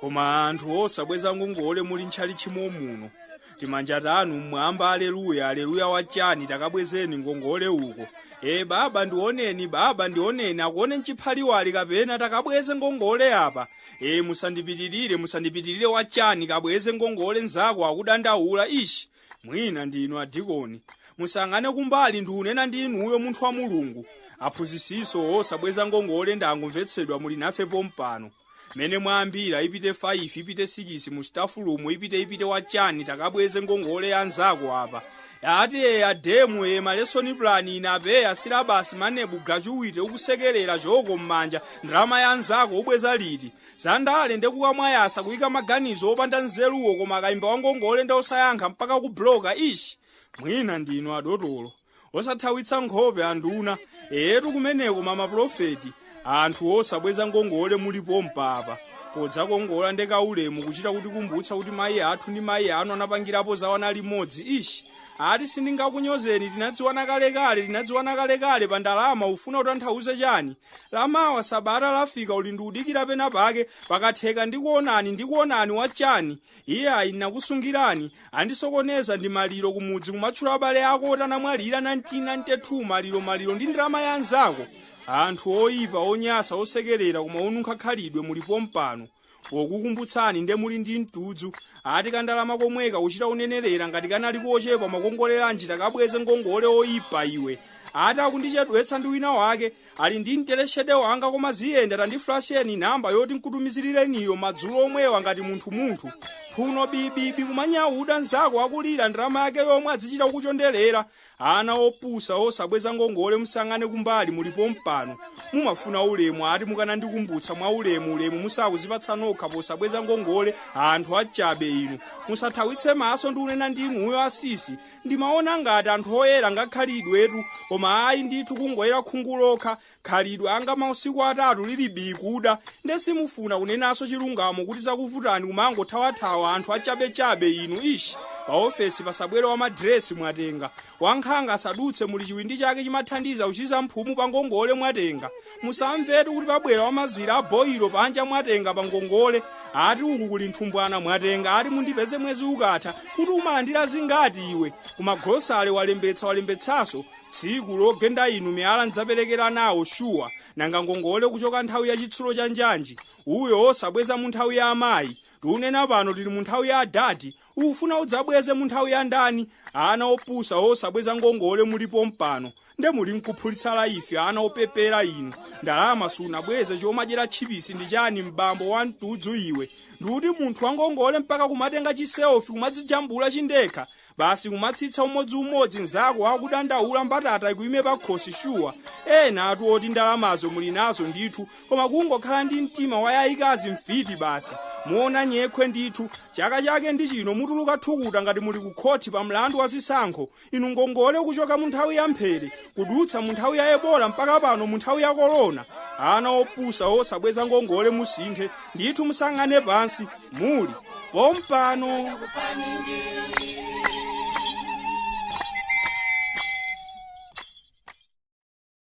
koma anthu osabweza ngongole muli ntchalitchi momuno timanja tanu mmwamba aleluya aleluya wachani takabwezeni ngongole uko e baba ndioneni baba ndioneni akuone mchiphaliwali kapena takabweze ngongole apa e musandipitirire musandipitirire wachani kabweze ngongole nzako akudandaula ishi mwina ndinu adikoni musang'ane kumbali ndiunena ndi inuyo munthu wa mulungu aphunzitsinso osabweza ngongole ndangomvetsedwa muli nafe pompano mene mwayambira ipite 5 ipite 6 mu staff room ipite ipite wachani takabweze ngongole ya nzako apa ati eya ademu e malesoni plan inabe asilabasi manebu graduate ukusekerera choko m'manja ndalama ya nzako ubweza liti zandale nde kukamwa yasa kuyika maganizo opanda nzeruwo koma akayimba wangongole nde osayankha mpaka kubloka ishi mwina ndinu adotolo osathawitsa nkhope anduna etu kumeneko mama pulofeti anthu osabweza ngongole muli pompapa podzakongola nde kaulemu kuchita kutikumbutsa kuti mayi athu ndi mayi anu anapangirapo za wana limodzi ishi ati sindingakunyozeni tinadziwana kalekale tinadziwana kalekale pa ndalama ufuna utanthauze chani lamawa sabata lafika uli ndiudikira pena pake pakatheka ndikuonani ndikuonani wachani iye ayi nakusungirani andisokoneza ndi maliro kumudzi kumatchula abale ako oti anamwalira 1992 maliro maliro ndi ndalama ya anzako anthu oyipa onyasa osekerera koma onunkha khalidwe muli pompano pokukumbutsani nde muli ndi mtudzu ati kandalama komweka kuchita unenerera ngati kanali kochepa makongoleranji takabweze ngongole oyipa iwe ati akundichedwetsa ndi wina wake Ali ndi 3 hundred wanga koma ziyenda tandiflasheni namba yoti nkutumizireniyo madzulo omwewa ngati munthu munthu phuno bibibi kumanyauda nzako akulira ndalama yake yomwe adzichita kukuchondelera anthu opusa osabweza ngongole musang'ane kumbali muli pompano mumafuna ulemu ati mukanandikumbutsa mwa ulemu ulemu musakuzipatsa nokha posabweza ngongole anthu achabe inu musathawitse maso ndiunena ndi inuyo asisi ndimaona ngati anthu oyera nkhalidwetu koma ayi ndithu kungoyera khungu lokha khalidwe anga mausiku atatu lili bii kuda nde simufuna kunenanso chilungamo kuti zakuvutani kumangothawathawa anthu achabechabe inu ishi pa ofesi pasabwere wa madiresi mwatenga wankhanga asadutse muli chiwindi chake chimathandiza kuchiza mphumu pa ngongole mwatenga musamvetu kuti pabwera wamazira aboyiro panja mwatenga pa ngongole ati uku kuli nthumbwana mwatenga ati mundipeze mwezi ukatha kuti umalandira zingati iwe kumagrosale walembetsa walembetsanso tsiku logenda inu miyala ndidzaperekera nawo shuwa nanga ngongole kuchoka nthawi ya chitsulo cha njanji uyo osabweza mu nthawi ya amayi tiunena pano tili mu nthawi ya adadi ukufuna udzabweze mu nthawi ya ndani ana opusa osabweza ngongole mulipo mpano nde muli nkuphulitsa laifi ana opepera inu ndalama sunabweze chomadyera tchipisi ndi chani mbambo wa mtudzu iwe ndikuti munthu wangongole mpaka kumatenga chiselfie kumadzijambula chindekha basi kumatsitsa umodziumodzi nzako akudandaula mbatata ikuime pakhosi shuwa enatu oti ndalamazo muli nazo ndithu koma kungokhala ndi mtima wa yayikazi mfiti basi muona nyekhwe ndithu chaka chake ndi chino mutuluka thukuta ngati muli kukhoti pa mlandu wa zisankho inu ngongole kuchoka mu nthawi ya mphere kudutsa mu nthawi ya ebola mpaka pano mu nthawi ya korona ana opusa osabweza ngongole musinthe ndithu musayang'ane pansi muli pompano